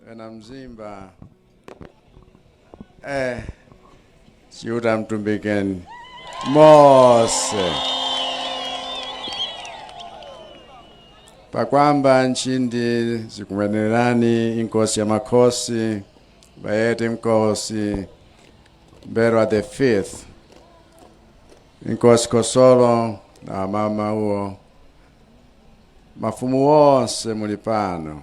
kapena mzimba eh, chiuta mtumbikeni mose pakwamba nchindi zikumwenerani inkosi ya makhosi bayete nkosi M'mbelwa the fifth inkosi khosolo na amama wuwo mafumu wonse muli pano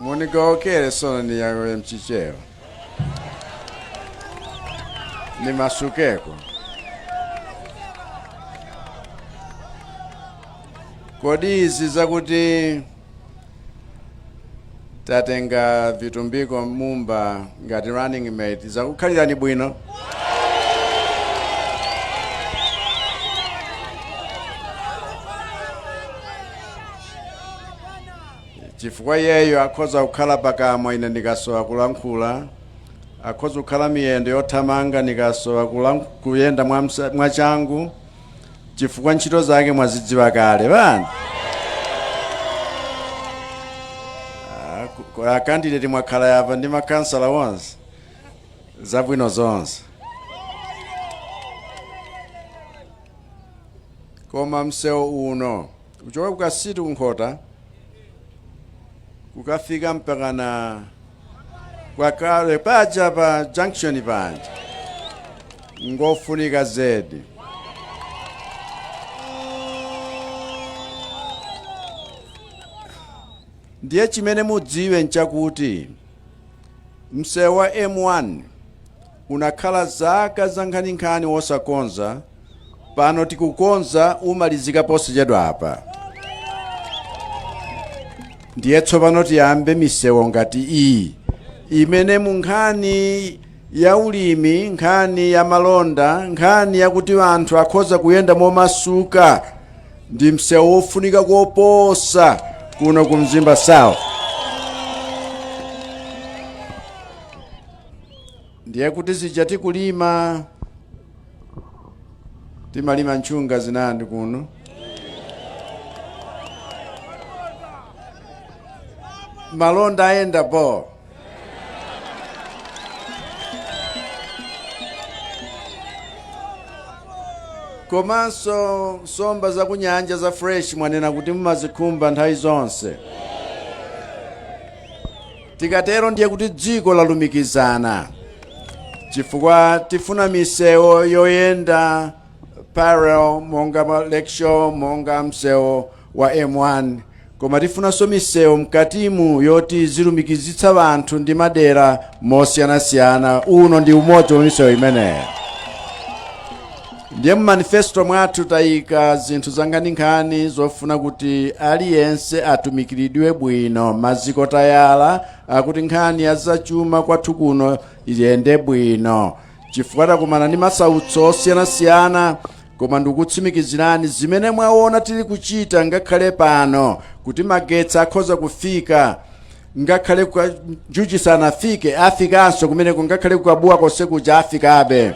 munigowokere sono niyowoye mchichewa nimasukeko kodi izi zakuti tatenga vitumbiko mumba ngati running mate zakukhalirani bwino chifukwa iyeyo akhoza kukhala pakamwa ine ndikasowa kulankhula akhoza kukhala miyendo yothamanga ndikasowa kuyenda mwachangu chifukwa ntchito zake mwazidziwa kale pano akandideti mwakhala apa ndi makansala onse zabwino zonse koma msewu uno kuchoka kukasitu kunkhota kukafika mpakana kwakale paja pa junction paja ngofunika zedi ndiye chimene mudziwe nchakuti msewu wa m1 Unakhala zaka zankhaninkhani wosakonza, pano tikukonza, umalizika posachedwa apa. Ndiye tsopano tiyambe misewu ngati iyi imene mu nkhani ya ulimi, nkhani ya malonda, nkhani yakuti anthu akhoza kuyenda momasuka ndi msewu wofunika koposa kuno ku Mzimba South. ndiye kuti zija zakuti kulima timalima nchunga zinandi kuno malonda ayendapo komanso nsomba zakunyanja za fresh mwanena kuti mumazikhumba nthawi zonse Tikatero ndiye kuti dziko lalumikizana chifukwa tifuna misewo yoyenda parallel monga lakeshore monga msewo wa m1 koma tifunanso misewu mkatimu yoti zilumikizitsa vanthu ndi madera mosiyanasiyana uno ndi umodzi wa misewu imeneyo Ndiye mu manifesto mwathu tayika zinthu zankhaninkhani zofuna kuti aliyense atumikiridwe bwino maziko tayala akuti nkhani ya zachuma kwathu kuno iyende bwino chifukwa takumana ndi masautso osiyanasiyana koma ndikutsimikizirani zimene mwaona tili kuchita ngakhale pano kuti magetsi akhoza kufika ngakhale ku Kanjuchi sanafike afikanso kumeneko ngakhale kukabuwa konse kuja afikabe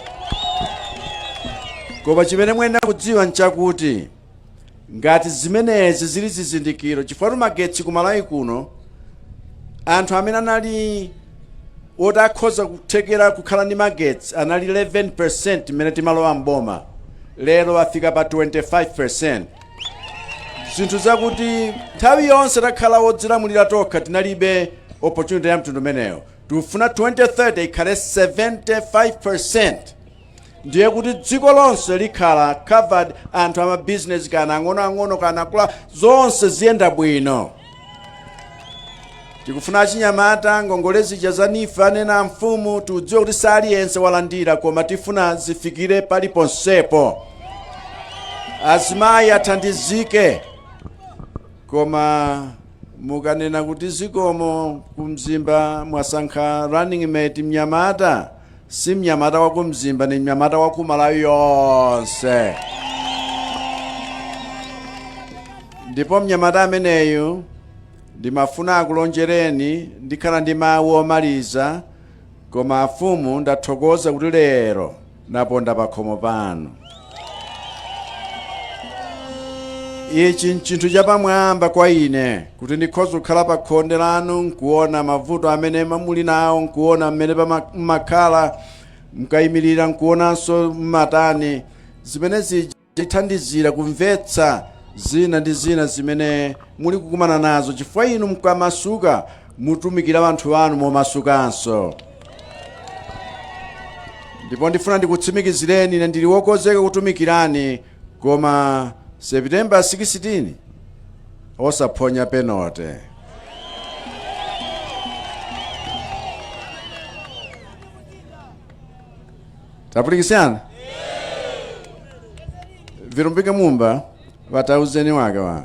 koma chimene muyenera kudziwa nchakuti ngati zimenezi zili zizindikiro chifukwa magetsi ku malawi kuno anthu amene anali oti akhoza kuthekera kukhala ndi magetsi anali 11% mmene timalowa mboma lero afika pa 25 zinthu zakuti nthawi yonse takhala wodzilamulira tokha tinalibe opportunity ya mtundu umeneyo tikufuna 2030 ikhale 75% ndiye kuti dziko lonse likhala covered anthu amabizinesi kana ang'onoang'ono kana akula zonse ziyenda bwino Tikufuna achinyamata, ngongole zija za NEEF anena amfumu tikudziwa kuti saliyense walandira koma tifuna zifikire pali ponsepo. Azimayi athandizike. Koma mukanena kuti zikomo ku Mzimba mwasankha running mate mnyamata si mnyamata wa ku mzimba ni mnyamata wa ku malawi yonse ndipo mnyamata ameneyu ndimafuna akulonjereni ndikhala ndi mawu omaliza koma afumu ndathokoza kuti lero naponda pakhomo panu ichi nchinthu chapamwamba kwa ine kuti ndikhoza kukhala pa khonde lanu nkuona mavuto amene muli nawo nkuona mmene pama- mmakhala mkayimirira nkuonanso mmatani zimene zithandizira kumvetsa zina ndi zina zimene muli kukumana nazo chifukwa inu mkamasuka mutumikira anthu anu momasukanso ndipo ndifuna ndikutsimikizireni ine ndili wokonzeka kutumikirani koma september 16 osaphonya penote tapulikisana vitumbiko mumba watauzeni wake wa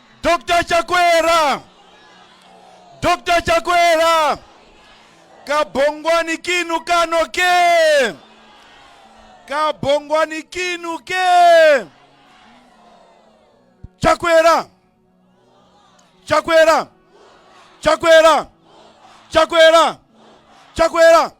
Dr. Chakwera! Dr. Chakwera! Kabongwani kinu kano ke! Kabongwani kinu ke! Chakwera! Chakwera! Chakwera! Chakwera! Chakwera!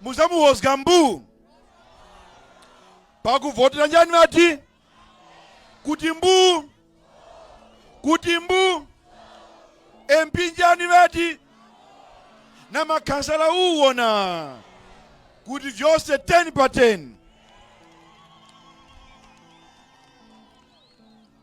Muzamuwozga mbuu pakuvotera chani ati? Kuti mbuu kuti mbuu MP chani ati? Na makhansala uwona kuti vyonse 10 pa 10.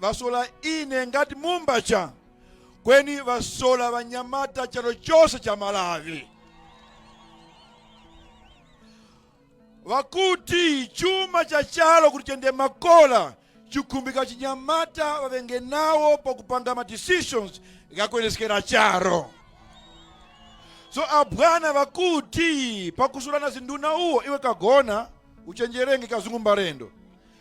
vasola ine ngat mumba cha kweni vasola vanyamata chalo chose cha malavi vakuti chuma cha chalo kuti chende makola chikhumbika chinyamata vavenge nawo pakupanga ma decisions ngakuendeskera charo so abwana vakuti pakusulana zinduna uwo iwe kagona uchenjerenge kazungu mbarendo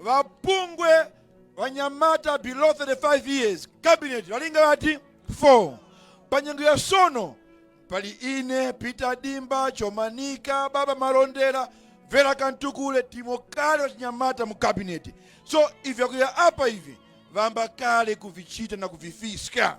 Va bungwe vanyamata below 35 years cabinet valinga vati 4 panyengo ya sono pali ine peter dimba chomanika baba malondera vera kantukule timo kale vachinyamata mu cabinet so ivi akuya apa ivi vamba kale kuvichita na kuvifiska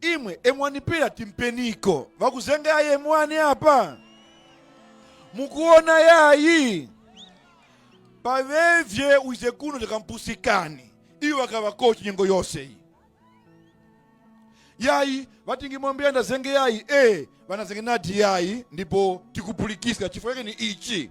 imwe emwanipira timpeniko vakuzenga yayi emwani apa mukuona yayi pavevye uize kuno takampusikani iyo wakavankhu nyengo yose iyi yayi vatingimwambia ndazenge yayi e vanazenge nati yayi ndipo tikupulikisa chifukwa chake ni ichi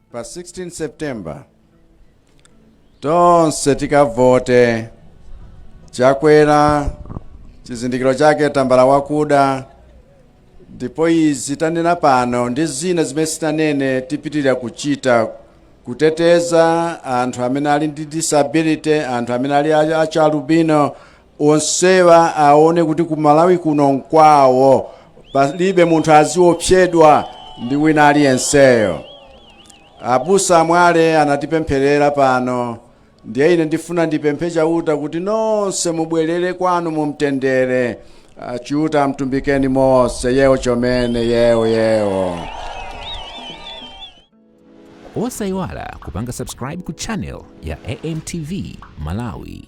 Pa 16 September tonse tikavote chakwera chizindikiro chake tambala wakuda ndipo izi tanena pano ndi zina zimene sindinanene tipitiriza kuchita kuteteza anthu amene ali ndi disability anthu amene ali a- achalubino Onsewa aone kuti ku Malawi kuno nkwawo, palibe munthu aziopsedwa ndi wina aliyenseyo. Abusa a Mwale anatipempherera pano, ndiye ine ndifuna ndipemphe Chauta kuti nonse mubwerere kwanu mu mtendere. Ah, Chiuta wamutumbikeni mose yewo chomene yewo yewo. osayiwala kupanga subscribe ku channel ya amtv malawi